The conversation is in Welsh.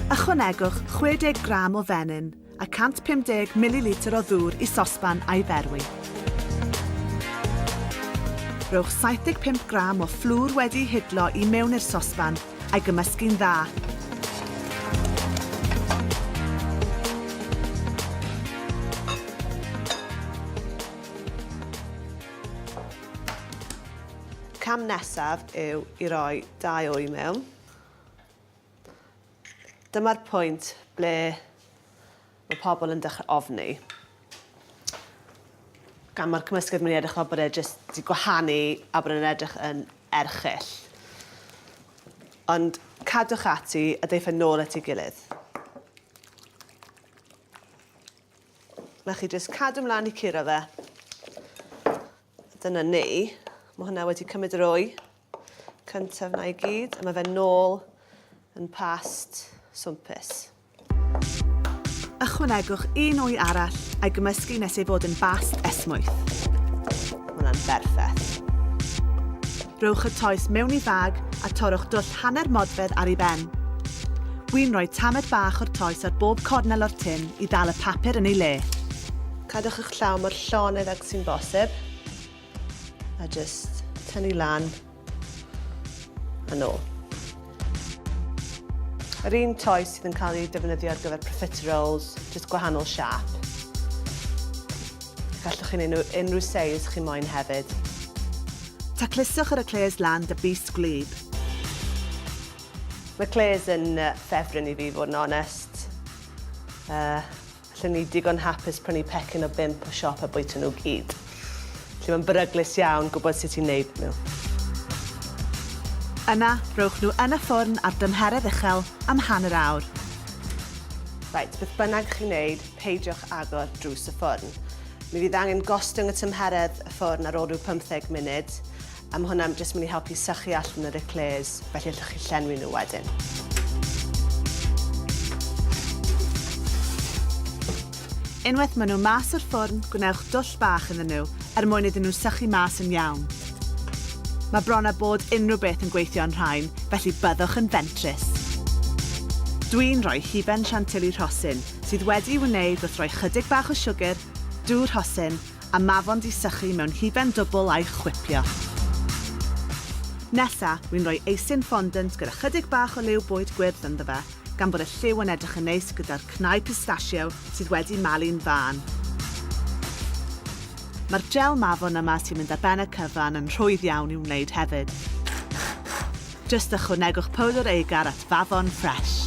Ychwanegwch 60 gram o fenyn a 150 mililitr o ddŵr i sosban a'i ferwi. Rhowch 75 gram o fflwr wedi'i hidlo i mewn i'r sosban a'i gymysgu'n dda. Cam nesaf yw i roi dau o i mewn. Dyma'r pwynt ble mae pobl yn dechrau ofni. Gan mae'r cymysgedd mynd i edrych fel bod e jyst wedi gwahanu a bod e'n edrych yn erchyll. Ond cadwch ati a deiff e nôl at ei gilydd. 'Na chi, jyst cadw mlaen i curo fe. Dyna ni. Mae hwnna wedi cymryd yr wy. Cyntaf na i gyd, a mae fe nôl yn past swmpus. Ychwanegwch un wy arall a'i gymysgu nes ei fod yn bast esmwyth. Mae hwnna'n berffeth. Rhowch y toes mewn i fag a torrwch dwll hanner modfedd ar ei ben. Wi'n rhoi tamed bach o'r toes ar bob cornel o'r tin i ddal y papur yn ei le. Cadwch eich llaw mor llonyddog sy'n bosib a jyst tynnu lan yn ôl. Yr un toes sydd yn cael ei defnyddio ar gyfer profiteer rolls, jyst gwahanol siap. Gallwch chi'n unrhyw, unrhyw seis chi moyn hefyd. Tacluswch yr eclairs lan dy bys gwlyb. Mae eclairs yn ffefryn i fi fod yn onest. Uh, Lle ni digon hapus prynu pecyn o bump o siop a bwyta nhw gyd. Lle mae'n beryglus iawn gwybod sut i neud nhw. Yna, rhowch nhw yn y ffwrn ar dymheredd uchel am hanner awr. Reit, beth bynnag chi'n neud, peidiwch agor drws y ffwrn. Mi fydd angen gostwng y tymheredd y ffwrn ar ôl rhyw pymtheg munud. A mae hwnna'n jyst mynd i helpu sychu allan yr eclairs, felly allwch chi llenwi nhw wedyn. Unwaith maen nhw mas o'r ffwrn, gwnewch dwll bach iddyn nhw er mwyn iddyn nhw sychu mas yn iawn. Mae bron a bod unrhyw beth yn gweithio yn rhain, felly byddwch yn fentrus. Dwi'n rhoi hufen chantilly rhosyn, sydd wedi'i wneud wrth roi chydig bach o siwgr, dŵr rhosyn, a mafon di sychu mewn hufen dwbl a'i chwipio. Nesa, wi'n rhoi eisin fondant gyda chydig bach o liw bwyd gwyrdd ynddo fe, gan bod y lliw yn edrych yn neis gyda'r cnau pistachio sydd wedi malu'n fân. Mae'r jel mafon yma sy'n mynd ar ben y cyfan yn rhwydd iawn i'w wneud hefyd. Jyst ychwanegwch powdr eigar at fafon ffresh.